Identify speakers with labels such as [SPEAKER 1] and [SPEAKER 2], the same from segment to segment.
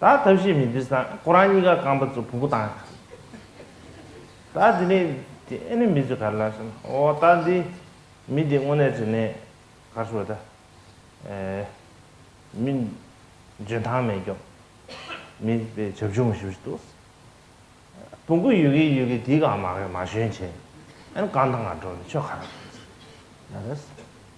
[SPEAKER 1] ད་ཐབས་ཤེས་མི་འདུག་སང་ཁོ་རང་གཉིས་ཀ་རྐང་པ་ཚོ་བུ་གུ་དང། ད་དེ་ནས་དེ་ཨེ་ནི་མི་ཚོས་ག་རེ་ལབ་བྱུང་ཨོ་ད་འདི་མི་འདི་དངོས་གནས་དྲིན་ལན་ག་རེ་ཞུ་བ་ད། ཨེ། མི། འཇོན་ཐང་མེད་སྐྱོབ། མི་པའི་བྱབ་ཆུང་མ་ཞུ་ཞིག་འདུག། བུ་གུ་ཡོད་གི་ཡོད་གི་དེའི་གང་མ་ག་རེ་མ་ཞོན་བྱས། ཨེ་ནི་གང་དང་གང་འགྲོ་ནི་ཆོས་ག་རེ།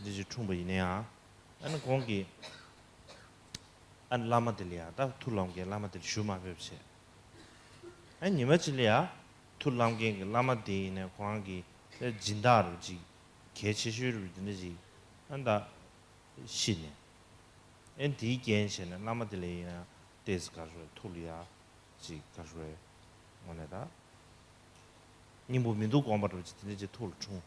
[SPEAKER 1] འདི་ཅིག་འཁྲུངས་པ་ཡིན་ནའང། ཨ་ནི་གོང་གི་ཨ་ནི་བླ་མ་དེ་ལ་ཡང་དག་ཐུགས་ལམ་མཁན་བླ་མ་དེར་ཞུ་མ་ཕེབས་བྱས། ཨ་ཉི་མ་ཅིག་ལ་ཡང་ཐུགས་ལམ་མཁན་གྱི་བླ་མ་དེ་ཡིན་ནའི་གོང་ཨ་གི་ཨ་སྦྱིན་བདག་རུ་ཅིག་གལ་ཆེ་ཤོས་རུ་འདི་འདྲ་ཅིག་ཨ་མདའ་ཤི་ནས། ཨེ་འདིའི་རྐྱེན་བྱས་ནས་བླ་མ་དེ་ལ་ཡིན་ནའི་ལྟས་ག་རེ་རེད་ཐུགས་ལ་ཡ་ཅིག་ག་རེ་རེད་ངོ་ནས་ད་སྙིང་པོ་མི་འདུག་དགོངས་པ་རུ་ཅིག་འདི་འདྲ་ཅིག་ཐུགས་ལ་འཁྲུངས།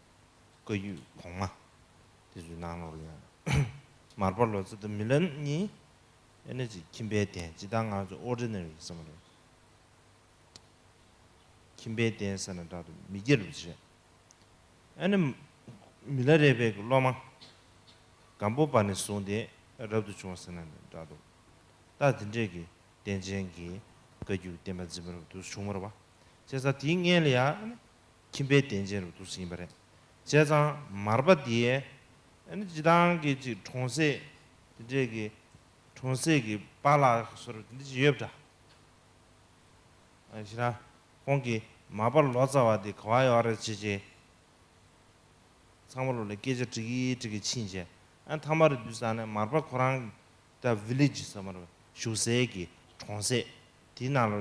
[SPEAKER 1] བཀའ་རྒྱུད་གོང་མ། དེ་ཚོའི་ནང་ནོར་ཡོད། མར་པ་ལོ་ཙཱ་དང་མི་ལཱ་གཉིས། ཨེ་ནི་ཅི་ཁྱིམ་པའི་གདན་སྤྱི་དང་ང་ཚོ Ordinary ཡིན་ས་མ་རེད། ཁྱིམ་པའི་གདན་ཟེར་ན་དྲག་ཏུ་མི་སྐྱེ་རུ་བྱེད། ཨེ་ནི། མི་ལཱ་རས་པའི་གི་སློབ་མ། སྒམ་པོ་པ་ནས་བཟུང་སྟེ་རབ་ཏུ་བྱུང་ཟེར་ན་ནི་དྲག་ཏུ། རྟགས་དེ་འདྲས་ཀྱི་གདན་ཅན་གྱི་བཀའ་རྒྱུད་བསྟན་པ་འཛིན་པ་རབ་ཏུ་བྱུང་བར་བ། བྱས་ཙང་དེའི་མངལ་ལ་ཡང་ཨེ་ནི། ཁྱིམ་པའི་གདན་ཅན་རུ་འདུག་ཟིན་པ་རེད། བྱས་ཙང་མར་པ་དེས་ཨ་ཅེ་ཐང་གི་ཅིག་གྲོང་གསེས་དེ་འདྲས་ཀྱི་གྲོང་གསེས་ཀྱི་པ་ལགས་ཟུར་དེ་འདྲས་ཅིག་ཡོད་པ་འདྲ། ཤི་ན་ཁོང་གིས་མར་པ་ལོ་ཙཱ་བ་དེ་ག་བ་ཡོད་རེད་ཅེས་ཅེས་ཚང་མ་ལོ་ལ་སྐད་ཆ་དྲི་གི་དྲི་གི་ཕྱིན་ཆད་མཐའ་མར་བསྡུས་ས་ནས་མར་པ་ཁོ་རང་ད Village ཟེར་མ་རེད་བཞུགས་སའི་གི་གྲོང་གསེས་དེའི་ནང་ལོ་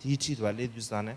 [SPEAKER 1] དེའི་འཁྲིས་དེ་བ་སླེབས་བསྡུས་ས་ནས་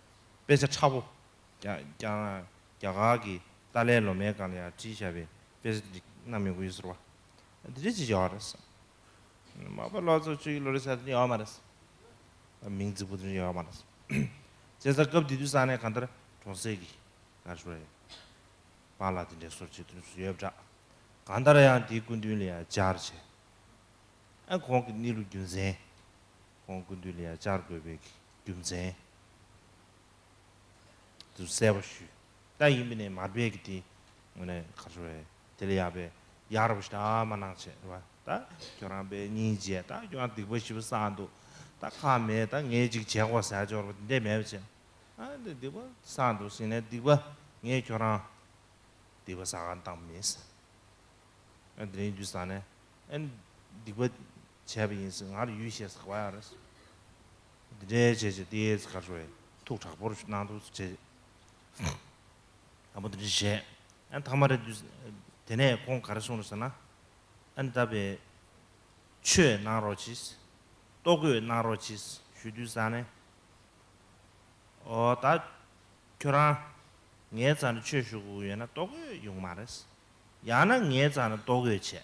[SPEAKER 1] དཔེ་ཆ་ཕྲ་བོ། རྒྱ་གར་གྱི་ཏཱ་ལའི་བློ་མའི་སྒང་ལ་ཡང་བྲིས་བཞག་པའི་དཔེ་ཆ་འདི་གནའ་མི་དགོས་ཟེར་བ། འདི་རིགས་ཅི་ཞིག་ཡོད་རེད་བསམ། མ་པ་ལོ་ཚོ་བཅུ་ཡི་ལོ་རེ་ས་དེ་ཡོད་མ་རེད་བསམ། མིང་རྫིག་པོ་དེ་ཡོད་མ་རེད་བསམ། བཙན་ས་སྐབས་དེ་དུས་ས་གནས་གང་ལྟར་གྲོང་གསེབ་ཀྱི་ནར་ཞོར་ཡོད་པ་ལ་དེ་འདྲའི་སོར་ཆུད་དོན་སུ་ཡོད་བསྒྲགས། གང་ལྟར་ཡང་དེའི་སྐུ་མདུན་ལ་ཡང་སྦྱར་བྱས། ཨ་ཁོང་གི་གནས་ལུགས་རྒྱུ་མཚན། ཁོང་ཀུན་འདུས་ལ་ཡང་བཅར་དགོས་པའི་རྒྱུ་མཚན། དུ་གསལ་བོ་ཞུས། ད་ཡིན་པས་ནས་མར་བས་ཀྱི་དེ། ངོ་ནས་ཁ་ཤོ་བས། དེ་ལས་ཡག་པས། ཡག་ར་བ་ཞིག་ད་མ་གནང་བྱས་ཨེ་བ། ད་ཁྱོད་རང་བས་གཉིས་བརྗེས་ད་ཁྱོད་རང་སྡིག་པ་ཞི་བ་བསགས་འདུག་ད་ཁག་མེད་ད་ངས་ཅིག་བྱས་གོ་ཟས་སྦྱོར་བ་འདི་འད་མེད་པ་བྱས། ཨ་འདི་སྡིག་པ་བསགས་འདུག་ཟིན་ནས་སྡིག་པ་ངས་ཁྱོད་རང། སྡིག་པ་བསགས་གང་བཏང་མིན་ཟེར། ཨ་འདི་རིང་རྒྱུ་བསགས་ནས། ཨ་འདི་སྡིག་པ། བྱས་པ་ཡིན་སྲིད་ང་ལ་ཡུས་ཤེས་སག་བ་ཡག་རེད། འདི་འདྲའི་བྱས་བྱས་ཏེ་ཨེ་ཙི་ཁ་ཧྲོའི་ཐུག་དྲག་པོར་གནང་འདུག་བྱས་བྱས་ཨ་མོ་འདི་འདྲ་བྱས་ཨ་ཐ་མ་རེད་འདུག་དེ་ནས་ཁོང་ག་རེ་གསུང་རེད་ཟེར་ན་ཨ་འདི་ལྟ་བས། ཆོས་གནང་རོགས་གྱིས། ལྟོ་གོས་གནང་རོགས་གྱིས་ཞུས་དུས་ས་ནས། ཨོ་ད། ཁྱོད་རང། ངའི་རྩ་ནས་ཆོས་ཞུ་དགོས་ཀྱི་ཡོད་ན་ལྟོ་གོས་ཡོང་མ་རེད། ཡང་ན་ངའི་རྩ་ནས་ལྟོ་གོས་བྱས།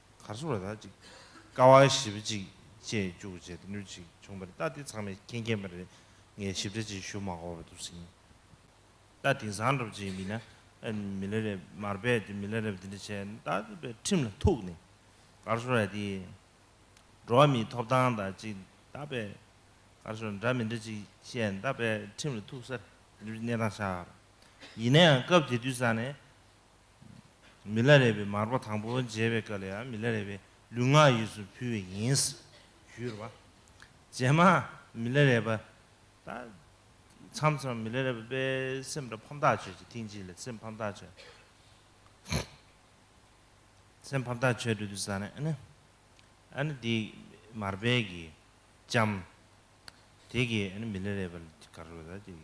[SPEAKER 1] གར་སོང་བ་དག་ཅིག། ཀ་བ་ཞིབ་གཅིག་བཅས་བཅུག་བྱས་ཏེ་ནུས་ཅིག་བྱུང་བ་རེད་ད་འདི་ཚང་མས་མཁྱེན་མཁྱེན་པ་རེད་ངས་ཞིབ་ཕྲ་ཅིག་ཞུ་མ་གོ་བ་འདུག་ཟིན་ད་དེང་སང་སྒྲུབ་བྱེད་མི་སྣ་མི་ལ་རེབ་མར་རྦད་དེ་མི་ལ་རེབ་འདི་འདྲ་བྱས་ན་ད་དེ་པའི་ཁྲིམས་ལ་ཐུག་ནས་གར་སོང་ར་དེའི་འགྲོ་བ་མིའི་ཐོབ་ཐང་དག་ཅིག་ད་པའི་གར་སོང་འདྲ་མི་འདྲ་ཅིག་བཤད་ན་ད་པའི་ཁྲིམས་ལ་ཐུག་ས་རེད་འདི་འདྲའི་གནས་སྟངས་ཤར་ཡིན་ན་ཡང་སྐབས་དེ་དུས་སང་ནས། མི་ལ་རས་པའི་མར་པ་དང་པོ་མཇལ་བའི་སྐབས་ལ་ཡང་མི་ལ་རས་པའི་ལུས་ངག་ཡིད་སུ་ཕུལ་བས་ཡིན། ཞུས་པ། རྗེས་མ་མི་ལ་རས་པ་དང་མཚམས་སུ་མི་ལ་རས་པས་སེམས་ལ་ཕམ་ཐག་ཆོད་ཅིག་ཐེངས་གཅིག་ལ་སེམས་ཕམ་ཐག་ཆོད། སེམས་ཕམ་ཐག་ཆོད་འགྲོ་དུས་ས་ནས་ཨ་ནི། ཨ་ནི་དེ་མར་པས་ཀྱིས་བཅམས། དེ་ཀྱིས་ཨ་ནི་མི་ལ་རས་པ་ལ་དགའ་རོགས་ལ་དེ།